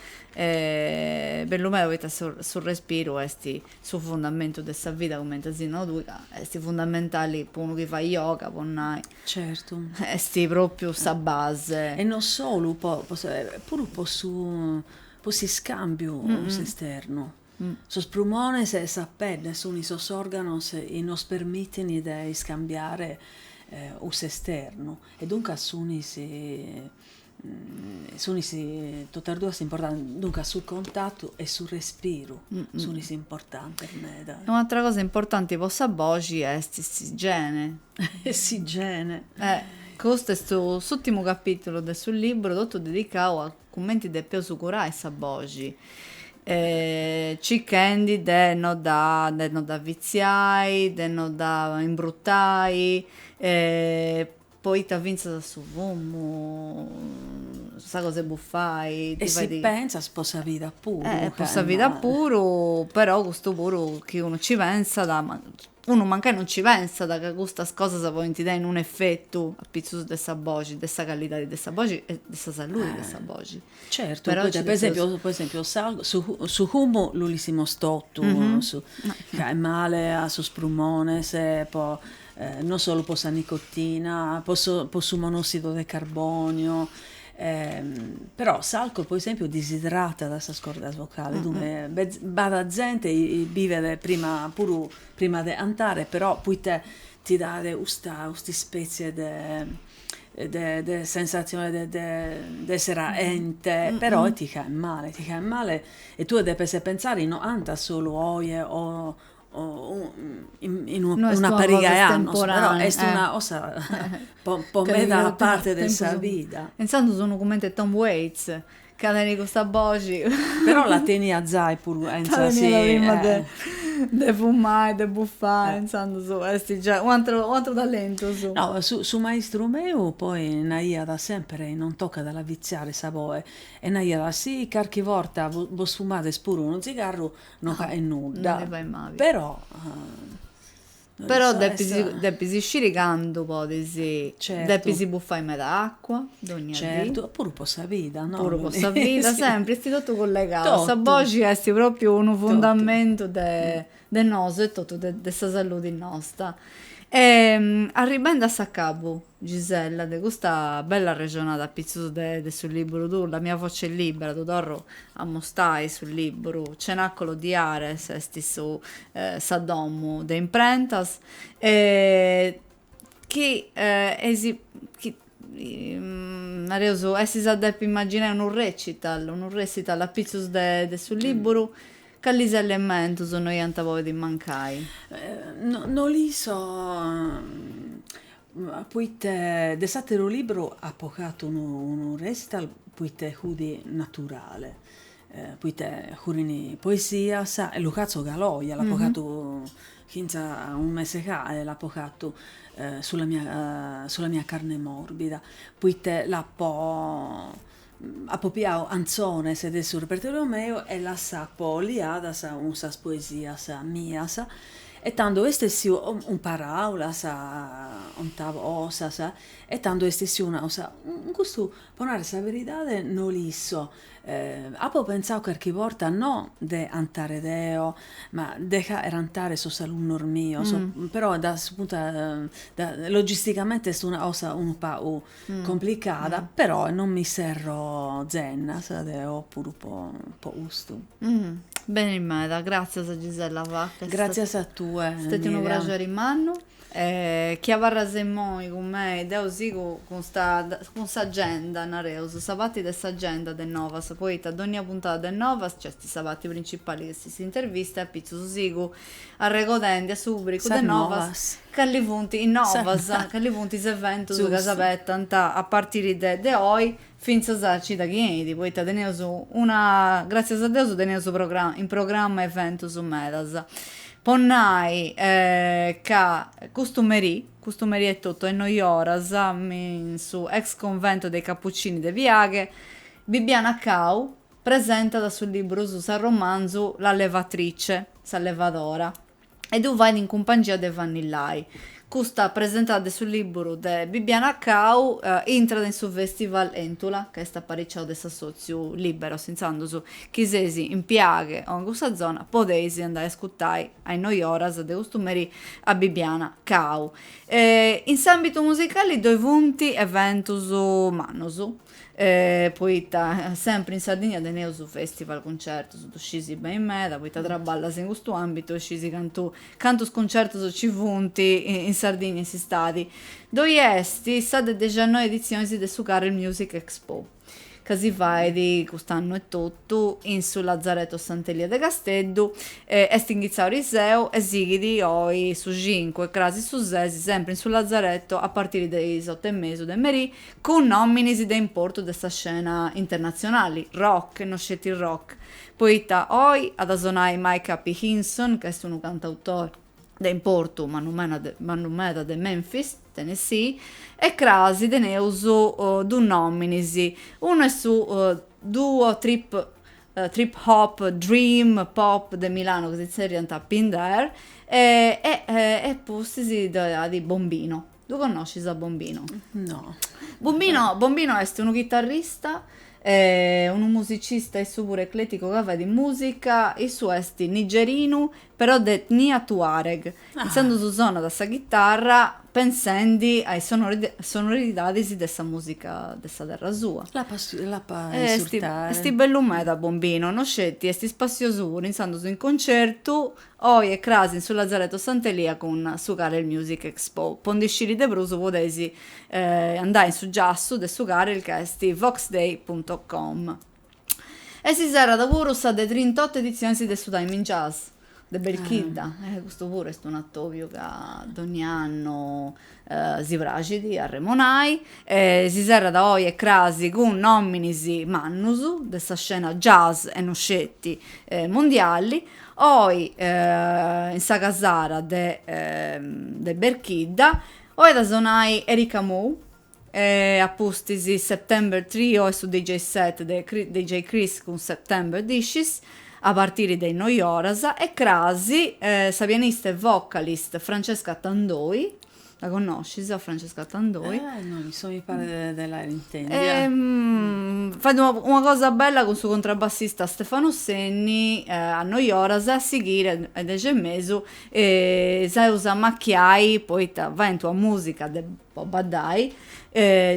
bellu meda poita su respiru est su fundamentu de sa vida, cumenti as nau tui, ca est fundamentali po unu chi fait yoga, po nai, est pròpriu sa base. E non solu, puru po s'iscàmbiu cun s'esternu. Sos prumones e sa pedde suni sos organos chi nos permitini de iscambiare cun s'esternu e duncas sunis sunis totas duas importantes duncas su contattu e su respiru sunis importantes meda. E un'atra cosa importanti po sa boxi est s'igiene. S'igiene. Custu est s'ultimu capitulu de su libru totu dedicau a cumenti depeus curai sa boxi, circhendi de no dda de no dda fitziai, de no dda imbrutai, poita fintzas a su fumu sa cosa 'e buffai ti fait. E si pentzas po sa vida puru. Po sa vida puru, però custu puru chi unu ci pentzat, Unu mancai non ci pensat ca custas cosas podint tenni unu efetu a pitzus de sa boxi, de sa callidadi de sa boxi e de sa saludi de sa boxi. Certu, poita po esempiu po esempiu su su fumu l'ischimus totus ca faet male a sos prumones po non solu po sa nicotina, po su po su monossidu de carboniu Però s'alcol po esempiu disidratat sas cordas vocales, dunche b'at zente chi bivet prima puru prima de cantare però proite ti dat custa custa ispetzie de de sensatzione de de de essere caente, però ti faet male, ti faet male e tue depes pentzare chi no cantas solu oje o una pariga 'e annos, però est una cosa po meda parte de sa vida. Intzandus unu cumenti e Tom Waits, ca tenit custa boxi. Però la teniat zai puru intzandus si. Prima de fumai, de bufai, intzandus est giai u' atru u' atru talentu suu. No, su maistru meu poi naiat sempre, non tocat a la fitziare sa boche, e naiat, si carchi borta bos fumades puru unu zigarru no fait nudda però però depis sciri candu podis depis buffai meda acua dogna dì puru po sa vida no puru po sa vida sempri esti totu collegau sa boxi esti propriu unu fundamentu de de nosu etotu de sa saludi nosta arribendi a s'acabu Gisella, De custa bella arrexonada apitzus de de su liburu tuu, la mia voce è libera, ddu torru a mostai su liburu, Cenacolo di Ares est su sa domu de imprentas e chi eisi chi nareus essis a depi imaginai unu recital, unu recital apitzus de de su liburu, calis elementus no iant podiu mancai? No no l'isso Poite de s'àteru libru apo fatu unu unu recital, poite fut naturale, poite furent poesias e lu fatzo galoia, l'apo fatu fintzas a unu mese fae, l'apo fatu sulla mia sulla mia carne morbida, poite l'apo Apo piau antzones de su repertoriu meu e las apo liadas cun sas poesias mias e tando est essiu, cun paraulas ontavosas, e tando est essiu una 'osa, custu po narrer sa beridade no l'isso, apo pentzau carchi borta no de antare deo, ma de faer antare sos alunnos mios, però da su puntu de logisticamente est una cosa unu pagu complicada, però non mi serro zennas, deo puru po, po custu. Mm. Beni meda, gràtzias Gisella Vacca. Gràtzias a tue. Est stètiu unu praxeri mannu. E chi abarras imoi cun mei, deu sigu cun sta, cun s'agenda, nareus, sa parti de s'agenda de Novas, poita dònnia puntada de Novas nc'est sa parti principali chi est s'intervista e apitzus sigu arregodendi a su pùbricu de novas cali funt is novas, cali funt is eventus ca s'abetant a partiri de oi fintzas a cida chi 'enit, poita teneus una, gràtzias a Deus teneus in programma eventus medas. Po nai ca custu merì, custu merì etotu a is noi oras, in su ex convento dei Cappuccini de Piaghe, Bibiana Cau Presentat su libru su s'arromanzu La levatrice, Sa levadora, e ddu fait in cumpangia de Vanni Lai. Custa presentada de su libru de Bibiana Cau intrat in su Festival Entula, ca est apariciau de s'assòtziu Liberos, intzandus chi seis in Piaghe o in cussa zona podeis andai a ascutai a is noi oras de custu merì a Bibiana Cau. In s'àmbitu musicali ddoi funt eventus mannus. E poita sempri in Sardigna teneus festival cuncertus, ddu scisi beni meda poita traballas in custu ambitu e scisi cantu cantus cuncertus nci funt in Sardigna in s'istadi. Ddoi est sa de dexannoi editzioni de su Karel Music Expo, ca si fait cust'annu etotu in su Lazareto Sant'Elia de Casteddu, est inghitzau ariseu e sighit oi su cincu e crasi su sesi sempri in su Lazareto a partiri de is otu e mesu de merì cun nòminis de importu de sa scena internatzionali, rock e no sceti rock, poita oi at a sonai Micah P. Hinson, ca est unu cantautore de importu, mannu meda de Memphis, Tennessee, e cras teneus duus nòminis, unu est su duo trip trip hop dream pop de Milano ca si tzerriant Pinhdar e e e pustis ddoi at Bombino. Ddu connoscis a Bombino? No. Bombino, Bombino est unu chitarrista, eh, unu musicista issu puru ecleticu ca fait musica, issu est nigerinu però de etnia tuareg, ah. intzandus sonat sa chitarra pensendi a is sonoridadis de sa musica de sa terra sua. L'apo a l'apo a est, est bellu meda Bombino, no sceti, est ispassiosu puru, intzandus in concertu Oi e cras in su Lazareto Sant'Elia cun su Karel Music Expo. Po ndi sciri de prus podeis andai in su giassu de su Karel ca est voxday punto com. E si serrat puru sa de trintotto editzionis de su Time in Jazz de Belchidda, custu puru est un'atobiu ca dogni annu Si praxit arremonai, e si serrat oi e crasi cun nominis mannus de sa scena jazz e no sceti mondiali, oi in sa casara de de Berchidda, oi at a sonai Erica Mou, e a pustis September Trio e su DJ set de DJ Cris cun September Dishes, a partiri de is noi oras, e cras sa pianista e vocalist Francesca Tandoi, la connoscis a Francesca Tandoi? Ah no, mi so mi paret de l'aer intendia. fait una cosa bella cun su contrabbassista Stefano Senni a is noi oras e a sighiri a is dexi e mesu s'eus a ammacchiai poita faint una musica de po baddai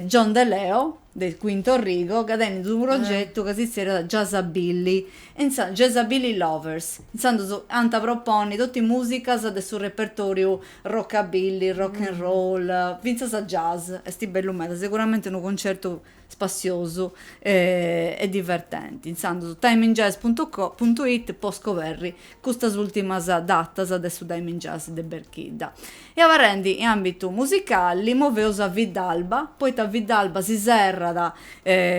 John De Leo de Quintorigo ca tenit unu progetu ca si zerriat Jazzabilly e insaras Jazzabilly Lovers intzandus ant proponni totu is musicas de su repertoriu rockabilly rock and roll finzas jazz esti bellu meda seguramenti unu concertu spassiosu e divertenti, intzandus timeinjazz punto it po scoberri custas ultimas datas de su Time in Jazz de Berchidda. E abarrendi in ambitu musicali moveus a Viddalba, poita a Viddalba si serrat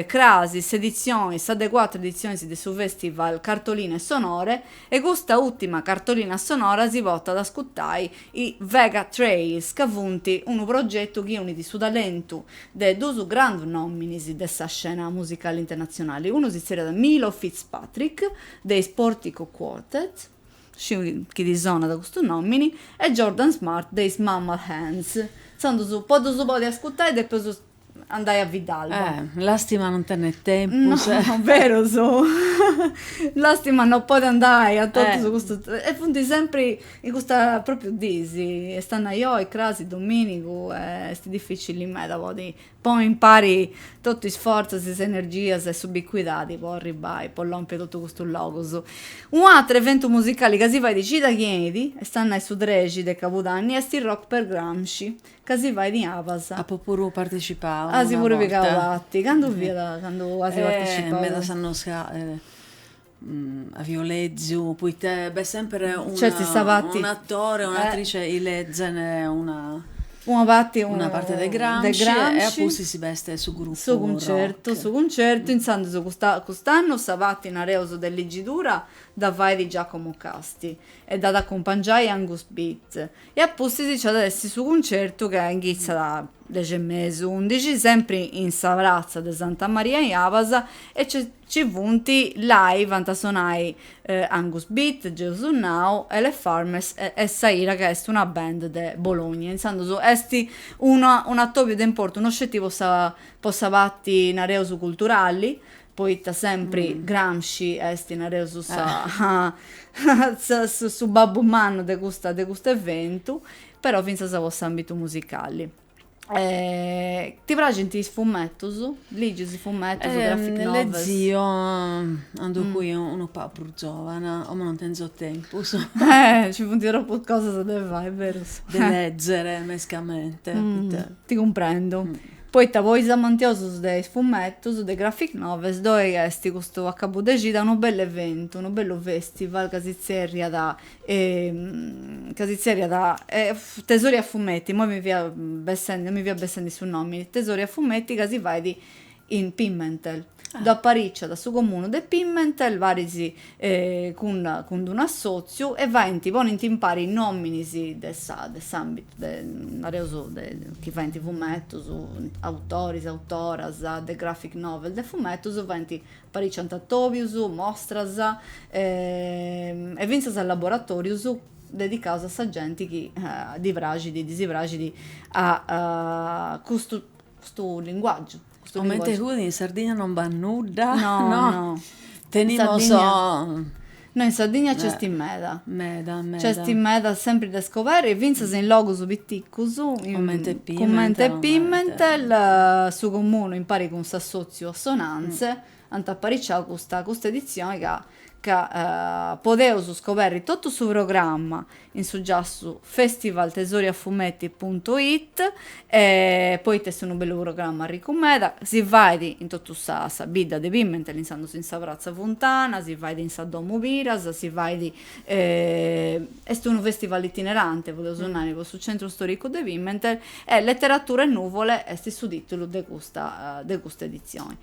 crasi s'editzioni, sa de cuatru editzionis de su festival Cartoline Sonore e custa ultima cartolina sonora si portat a ascurtai i Vega Trails ca funt unu progetu chi unit su talentu de duus grandus nominis de sa scena musicali internatzionali, unu si tzerriat Milo Fitzpatrick de is Portico Quartet, sciu chi ti sonat custu nomini, e Jordan Smart de is Mammal Hands. Intzandus po ddus podi ascurtai depeus andai a Viddalba. Eh, lastima non tenner tempus. No, eh. berus. lastima non podi andai a totus eh. custus e funt sempri in custa propriu dis, est a nai oi, crasi, dominigu, eh, est dificili meda podi poni impari totu is forzas, is energias e s'ubicuidadi po arribai, po lompi totu custus logus. Un'atru eventu musicali ca si fait cida chi 'enit, est a nai su trexi de cabudanni, est il Rock per Gramsci, ca si fait in Abas. Apo puru partecipau una borta. Asi puru pigau parti. Candu fiat candu asi partecipau? Medas annos ca avio leziu, poita b'est sempre un'atore o un'atrice chi lezent una una parti una parti de Gramsci e a pustis b'est su grupu rock. Su cuncertu, su cuncertu, intzandus custa cust'annu sa parti nareus de legidura dda fait Giacomo Casti e dd'at acumpangiai Angus Bit E a pustis nci at a essi su cuncertu ca inghitzat a dexi e mesu, undixi, sempri in sa pratza de Santa Maria in Abas e nci nci funt, live ant a sonai Angus Bit, Gesù Now, Elepharmers e e Saira ca est una band de Bologna, intzandus est una un'atobiu de importu no sceti po sa po sa parti, nareus, culturali, Poita sempri Gramsci est, nareus, sa sa su babbu mannu de custa de custu eventu, però fintzas po s'ambitu musicali. ti praxint is fumetus? Ligis fumetus, graphic novels? Lezio cando fui unu pagu prus giovana, como non tenzo tempus. Eh, ci funt troppus cosas de fai, berus. De lezere mescamente. Ti cumprendo. Poita po is amantiosus de is fumetus de is Graphic Novels ddoi est custu acabu de cida unu bellu eventu, unu bellu festival ca si tzerriat ca si tzerriat Tesori a fumetti, immoi mi fia bessendi non mi fia bessendi su nomini, Tesori a fumetti ca si fait in Pimentel. Dd'apariciat su comunu de Pimentel paris cun d'un'assòtziu e faint, ponint impari nòminis de sa de s'àmbitu de, nareus, de chi faint fumetus, autoris, autoras de graphic novel de fumetus, faint, apariciant atòbius, mostras e fintzas laboratòrius dedicaus a sa genti chi ddi praxit, ddi si praxit custu custu linguàgiu. Comente chi in Sardigna non b'at nudda, no, tenimus, no in Sardigna nc'est meda, meda, meda, nc'est meda sempri de scoberi finzas in logus piticus, comente Pimentel, su comunu impari cun s'assotziu Assonanze Ant apariciau custa custa editzioni ca ca podeus scoberri totu su programma in su giassu festivaltesoriafumetti puntu it e poita est unu bellu programma arricu meda, si fait in totu sa sa bidda de Pimentel intzandus in sa pratza Funtana, si fait in sa domu Piras, si fait est unu festival itinerante podeus nai po su centru storicu de Pimentel e Letteratura e nuvole est su titulu de custa de custa editzioni.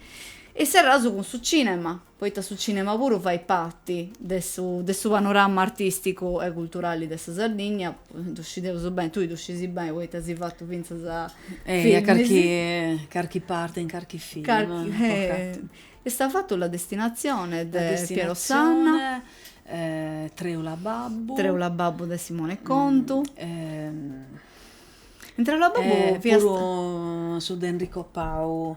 E serraus cun su cinema, poita su cinema puru fait parti de su de su panorama artisticu e culturali de sa Sardigna, ddu scideus beni, tui ddu scisi beni poita as fatu fintzas filmis. E carchi carchi parti in carchi film. Carchi as fatu La destinazione de Piero Sanna. Treula babbu. Treula babbu de Simone Contu. In Treula babbu fiat. Puru su de Enrico Pau.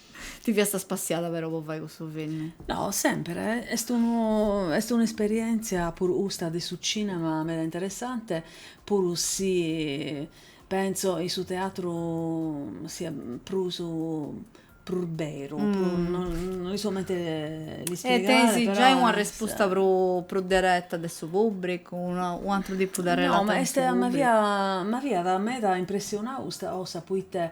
Ti fiast spassiada però po fai cussu filmi? No, semper, est unu est un'isperièntzia puru custa de su cinema meda interessante, puru si pentzo in su teatru siat prus prus beru, no l'isco comente l'ispiegai, però est. E tenes giai una respusta prus prus dereta de su pubbricu, u' atru tipu de relata. No, ma est ma fiat ma fiat meda impressionau custa cosa, poita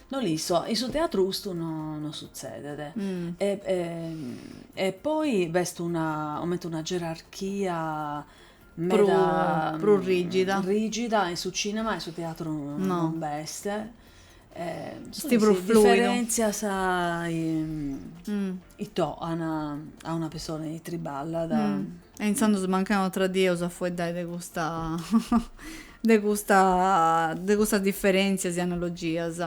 No l'isco, in su teatru custu no no sutzedet e e poi b'est una comente una gerarchia meda prus rigida rigida in su cinema e in su teatru non b'est est prus fluidu diferentzias intro a una pessone chi triballat e intzandus mancai un'atra dì eus a fueddai de custa de custa de custas diferentzias e analogias.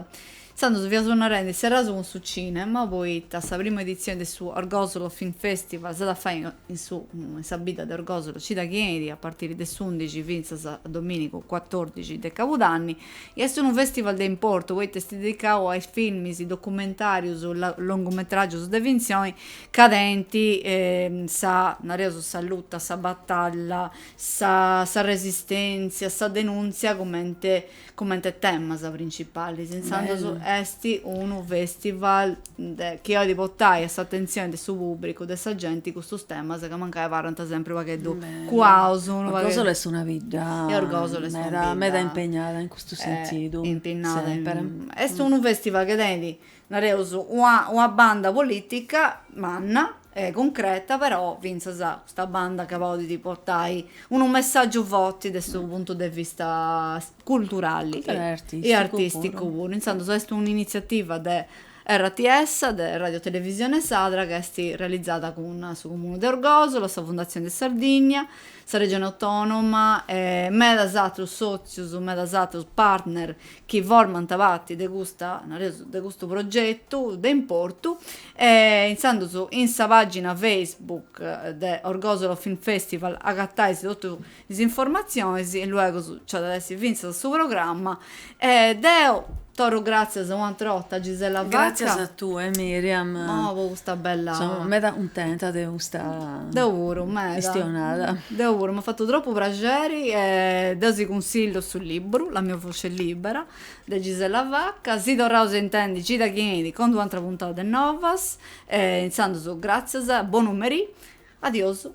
Intzandus fiaus narendi e serraus cun su cinema poita sa prima editzioni de su Orgòsolo Film Festival s'at a fai in su in sa bidda de Orgòsolo cida chi benit a partiri de s'undixi fintzas a dominigu cuatòrdixi de cabudanni e est unu festival de importu poita est dedicau a is filmis documentarius longumetragius de fintzioni ca tenint sa nareus sa luta sa batalla sa resistèntzia, sa denùntzia comente comente temas printzipales. Intzandus est unu fèstival chi at a portai a s'atentzioni de su pùbricu, de sa genti custus temas ca mancai abarrant sempri u' pagheddu cuaus. Orgòsolo est una bidda meda meda impegnada in custu sentidu. Est unu fèstival chi tenit nareus, una una banda politica manna e cuncreta, però fintzas custa banda ca podit portai unu messaggiu forti de su puntu de vista culturali e artisticu puru, intzandus est un'initziativa de RTS, de Radio Televisione Sadra, ca est realizada cun su Comunu de Orgosolo, sa Fundatzioni de Sardigna, sa Regioni Autonoma e medas atrus sotzius, medas atrus partner chi formant parti de custa, nareus, de custu progetu de importu, e intzandus in sa pàgina Facebook de Orgosolo Film Festival agatais totu is informatzionis, in luegus nc'at a essi fintzas su programma, e deu torru gràtzias un'àtera 'orta a Gisella Vacca, Gràtzias a tue Miriam, po custa bella, seu meda cuntenta de custa, deu puru, meda, chistionada, deu puru, m'at fatu tropu praxeri e deu si cunsillu su liburu, La mia Voce Libera, de Gisella Vacca, si torraus a intendi cida chi 'enit cun d-un'antra puntada de Novas e intzandus gràtzias, bonu merì, adiosu.